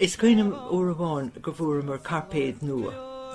Is cuimhin liom uair amháin go bhfuaireamar cairpéad nua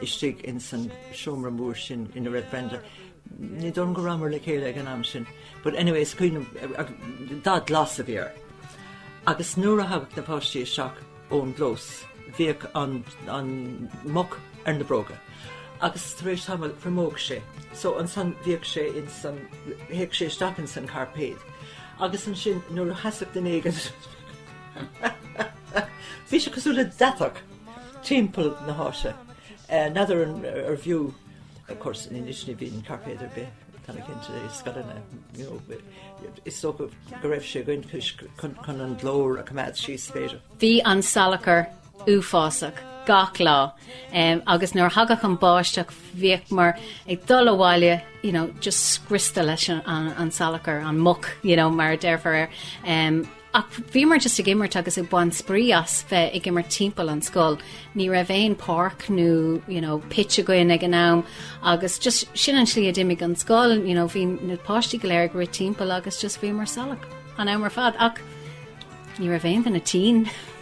istigh ins an seomra mór sin ina raibh Brenda, ní dóigh liom go rabhamar le chéile ag an am sin, but anyway is cuimhin liom agus dath glas a bhí air. Agus nuair a thagadh na páistí isteach ón gclós bhíodh an an muck ar na bróga agus tar éis tamaill thriomódh sé, so ansan bhíodh sé ins an théadh sé isteach ins an cairpéad agus ansin nuair a sheasfadh duine éigin Bhí sé cosúil le deatach timpeall na háite. N'fheadar an ar bhfiú of course ní níos ní bhíonn cairpéad ar bith tá mé cinnte i scoileanna you know is dócha go raibh sé againn chun chun an glór a coimeád síos b'fhéidir. Bhí an salachar uafásach gach lá agus nuair a thagadh an bháisteach bhíodh muid ag dul abhaile you know just scriosta leis an salachar, an muck you know mar a déarfá ach bhíomar just ag imirt agus ag baint spraoi as bheith ag imirt timpeall an scoil. Ní raibh aon páirc nó you know pitch againn ag an am agus just sin an slí a d'imigh an scoil you know bhí na páistí go léir ag rith timpeall agus just bhíomar salach an am ar fad ach ní raibh aon duine tinn.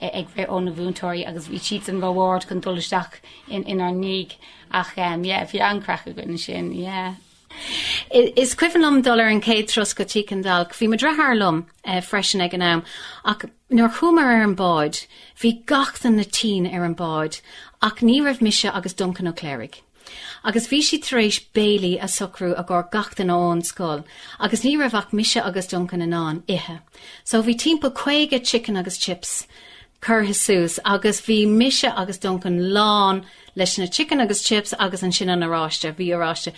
ag rith ó na mhúinteoirí agus bhí siadsan ró-ard chun dul isteach inár ndiaidh ach yeah bhí an-chraic againn ansin yeah. Is cuimhin liom dul ar an chéad turas go Tigh Chan Dalc, bhí mo dheartháir liom freisin ag an am, ach nuair chuamar ar an bhád bhí gach duine tinn ar an bhád ach ní raibh mise agus Duncan Ó Cléirigh. agus bhí siad tar éis béilí a shocrú i gcomhair gach duine ón scoil agus ní raibh ach mise agus Duncan in ann ithe so bhí timpeall caoga chicken agus chips curtha suas agus bhí mise agus Duncan lán leis na chicken agus chips agus ansin an oráiste, bhí oráiste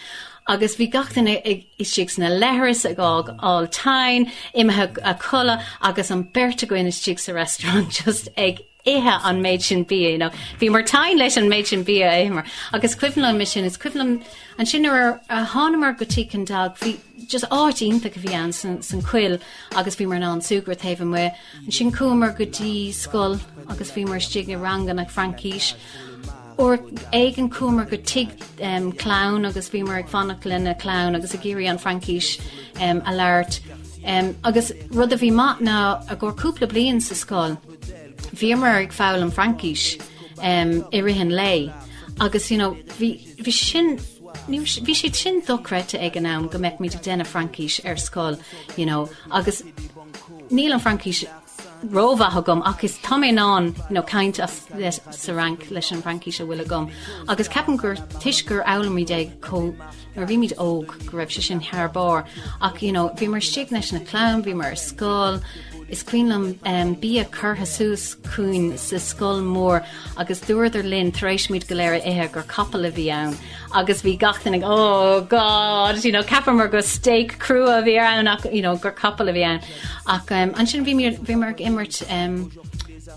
agus bhí gach duine istigh sna leithris ag fáil tinn imithe a chodladh agus an beirt againn istigh sa restaurant just ag ithe an méid sin bia you know bhíomar tinn leis an méid sin bia a itheamar agus is cuimhin liom é sin is cuimhin liom ansin nuair ar a thánamar go Tigh Chan Dalc bhí just áit iontach a bhí ann san san coill agus bhíomar in ann súgradh taobh amuigh ansin chuamar go dtí scoil agus bhíomar istigh i ranganna Fraincís uair éigin chuamar go tigh em clann agus bhíomar ag fanacht leis na clann agus ag iarraidh an Fraincís em a labhairt em agus rud a bhí maith ná i gcomhair cúpla bliain sa scoil Bhíomar ag foghlaim Fraincis i rith an lae agus you know bhí bhí sin ní bhí sé sin dochreidte ag an am go mbeimid ag déanamh Fraincis ar scoil you know agus níl an Fraincis rómhaith agam ach is tá mé in ann you know caint as le sa Fhrainc leis an bhFraincis a bhfuil agam agus ceapaim gur toisc gur fhoghlaimid é chomh Nuair a bhímid óg go raibh sé sin thar barr ach you know bhíomar istigh leis na clann, bhíomar ar scoil, is cuimhin liom em bia curtha síos chugainn sa scoil mór agus dúradar linn tar éis muid go léir a ithe gur capall a bhí ann agus bhí gach duine ag oh God you know cheapamar go steak crua a bhí ann ach you know gur capall a bhí ann ach em ansin bhíomar bhíomar ag imirt em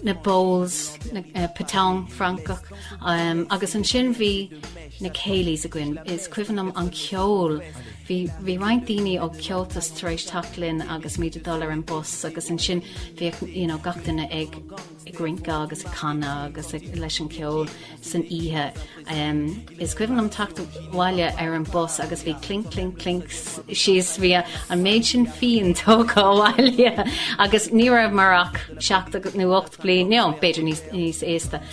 na bowls na eh, pétanque Francach em agus ansin bhí na céilís againn. Is cuimhin liom an ceol. Bhí, bhí roinnt daoine ó Cheoltas tar éis teacht linn agus muid ag dul ar an bus agus ansin bhíodh, you know, gach duine ag, ag rince agus ag canadh agus ag, leis an gceol san oíche. Em, is cuimhin liom teacht abhaile ar an bus agus bhí clink clink clink síos, bhí a, an méid sin fíon tógtha abhaile agus ní rabhamar ach seacht nó ocht bliain, no, b'fhéidir níos, níos aosta.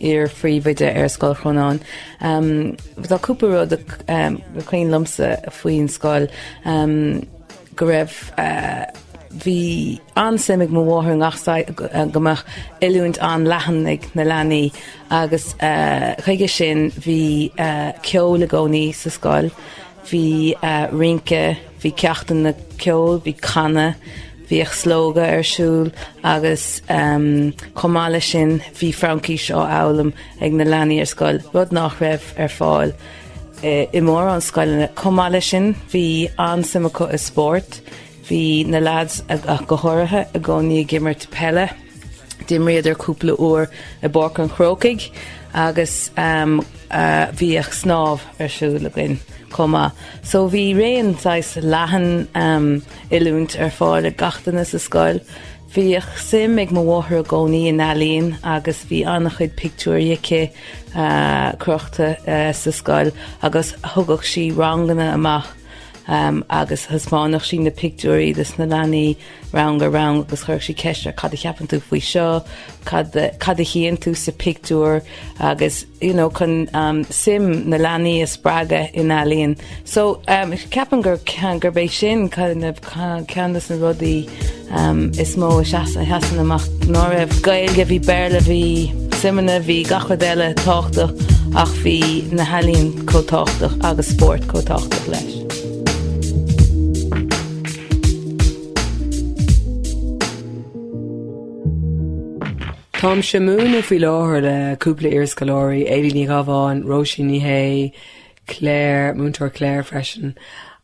iar-phríomhoide ar Scoil Chrónáin. Tá cúpla rud is cuimhin liomsa faoin scoil. Go raibh, bhí an-suim ag mo mháthair i ngach saghas, go mbeadh oiliúint an-leathan ag na leanaí agus chuige sin bhí ceol i gcónaí sa scoil. Bhí rince, bhí ceachtanna ceoil, bhí canadh, bhíodh Slógadh ar siúl agus chomh maith leis sin bhí Fraincis á fhoghlaim ag na leanaí ar scoil, rud nach raibh ar fáil i mórán scoileanna. Chomh maith leis sin bhí an-suim acu i spórt, Bhí na leaids, ach go háirithe, i gcónaí ag imirt peile. D'imríodar cúpla uair i bPáirc an Chrócaigh agus bhíodh snámh ar siúl againn chomh maith. So bhí raon saghas leathan oiliúint ar fáil ag gach duine sa scoil. Bhíodh suim ag mo mháthair i gcónaí in ealaíon agus bhí an-chuid pictiúirí aici crochta sa scoil agus thugadh sí ranganna amach. agus thaispeánadh sí na pictiúirí dos na leanaí rang ar rang agus chuirfeadh sí ceist ar cad a cheapann tú faoi seo, cad a, cad a chíonn tú sa pictiúr agus you know chun suim na leanaí a spreagadh in ealaíon. So, ceapaim gur, gurb é sin kind of ceann des na rudaí is mó a sheasann amach ná raibh Gaeilge, bhí Béarla, bhí suimeanna, bhí gach rud eile tábhachtach ach bhí na healaíona chomh tábhachtach agus spórt chomh tábhachtach leis. Táimse ag múineadh faoi láthair le cúpla iarscoláirí, Éilí Ní Ghabháin, Róisín Ní Shé, Claire, Múinteoir Claire freisin,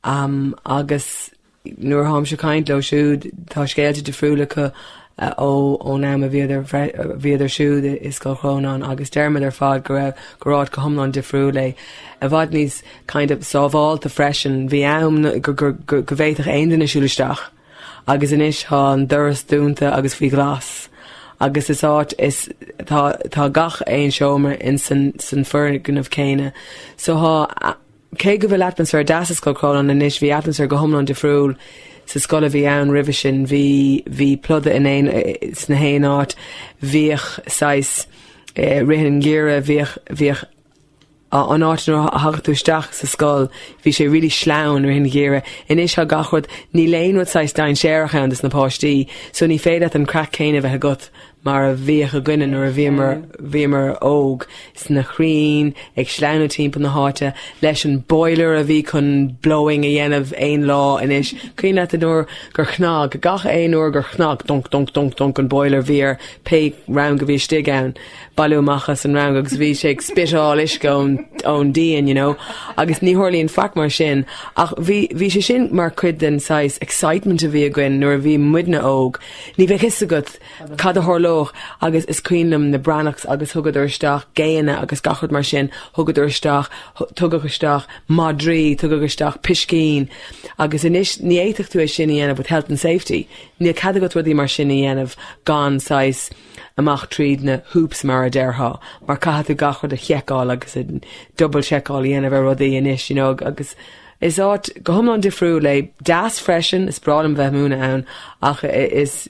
agus Nuair a tháimse ag caint leo siúd, tá scéalta difriúla acu ó ón am a bhíodar siúd i Scoil Chrónáin agus deirimid ar fad go raibh, gurbh áit go hiomlán difriúil é. I bhfad níos, kind of, sábhálta freisin. Bhí am go bhféadfadh aon duine siúl isteach agus anois tá an doras dúnta agus faoi ghlas agus is áit is, tá gach aon seomra ins an foirgneamh céanna. So tá. Cé go bhfuil atmaisféar deas i Scoil Chrónáin anois, bhí atmaisféar go hiomlán difriúil sa scoil a bhí ann roimhe sin. Bhí, bhí pluda in aon, sna haon áit. Bhíodh saghas, eh, rith i ngiorra. Bhíodh an áit nuair a thagadh tú isteach sa scoil, bhí sé really sleamhain, rith i ngiorra. Anois tá gach rud, níl aon rud saghas dainséarach ann dos na páistí, so ní féidir leat an craic céanna a bheith agat. mar a bhíodh againne nuair a bhíomar, bhíomar óg, sna crainn, ag sleamhnú timpeall na háite, leis an boiler a bhí chun blowing up a dhéanamh aon lá, anois, cuimhin leat an uair gur chnag, gach aon uair gur chnag dunc, dunc, dunc, dunc an boiler, bhí ar pé rang a bhí istigh ann, bailiú amach as an rang agus bhí sé ag spiteáil uisce ón, ón díon, you know, agus ní tharlaíonn faic mar sin, ach bhí, bhí sé sin mar chuid den saghas excitement a bhí againn nuair a bhí muidne óg, ní bheadh fhios agat, cad a tharlódh agus is cuimhin liom na Breathnachs agus thugadar isteach géanna agus gach rud mar sin, thugadar isteach, tugadh isteach madraí, tugadh isteach piscín agus anois ní fhéadfadh tú é sin a dhéanamh with health and safety, níl cead agat rudaí mar sin a dhéanamh gan saghas amach tríd na hoops mar a déarfá, mar caithfidh tú gach rud a sheiceáil agus double seiceáil a dhéanamh ar rudaí anois you know agus Is áit go hiomlán difriúil é, deas freisin, is breá liom a bheith múineadh ann ach is,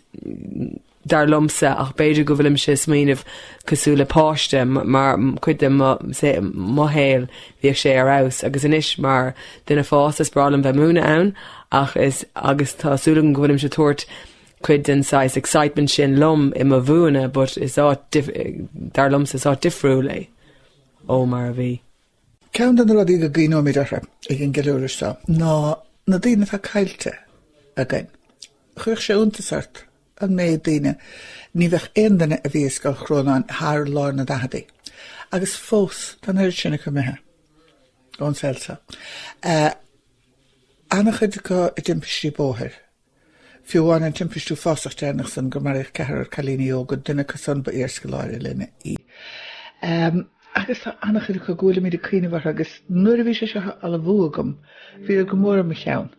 dar liomsa, ach b'fhéidir go bhfuilimse ag smaoineamh cosúil le páiste, mar chuid de mo shaol bhíodh sé ar fheabhas agus anois mar dhuine fásta is breá liom bheith múineadh ann ach is, agus tá súil agam go bhfuilimse ag tabhairt cuid den saghas excitement sin liom i mo mhúineadh but is áit, dar liomsa, is áit difriúil é ó mar a bhí. Ceann de na rudaí go gcuimhneoimid orthu ag an gceiliúradh seo ná na daoine atá caillte againn. Chuirfeadh sé iontas ort an méid daoine, ní bheadh aon duine a bhí i Scoil Chrónáin thar lár na daicheadaí agus fós tá an oiread sin acu imithe ón saol seo. Ana-chuid acu i dtimpistí bóthair. Fiú amháin an timpiste uafásach deireanach san gur maraíodh ceathrar cailíní óga, duine acu san ba iarscoláire linn í. Agus tá an-chuid acu go bhfuilimid ag cuimhneamh orthu agus nuair a bhí sé seo á ullmhú agam bhí siad go mór i mo cheann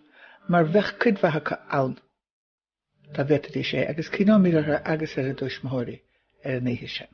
mar bheadh cuid mhaith acu ann dá bhféadfaidís é agus cuimhneoimid orthu agus ar a dtuismitheoirí ar an oíche sin.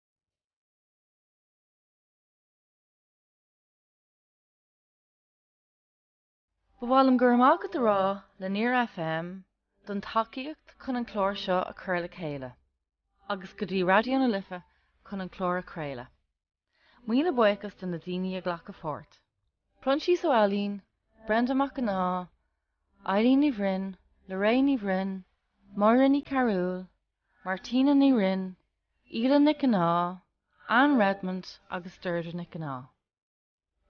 Ba mhaith liom go raibh maith agat a rá le Near FM don tacaíocht chun an clár seo a chur le chéile, agus go dtí Raidió na Life chun an clár a chraoladh. Míle buíochas do na daoine a ghlac páirt, Proinsias Ó hAilín, Brenda Mac Cionnaith, Eilín Ní Bhroin, Lorraine Ní Bhroin, Máire Ní Chearbhaill, Martina Ní Rinn, Aoileann Nic Cionnaith, Anne Redmond agus Deirdre Nic Cionnaith.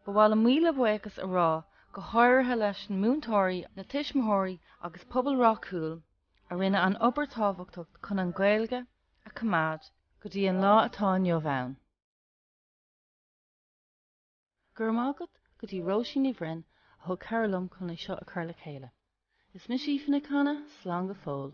Ba mhaith liom míle buíochas a rá go háirithe leis na múinteoirí, na tuismitheoirí agus pobal Ráth Cúil a rinne an obair tábhachtach chun an Ghaeilge a choimeád go dtí an lá atá inniu ann. Go raibh maith agat go dtí Róisín Ní Bhroin a thug cabhair liom chun é seo a chur le chéile. Is mise Aoife Nic Canna, slán go fóill.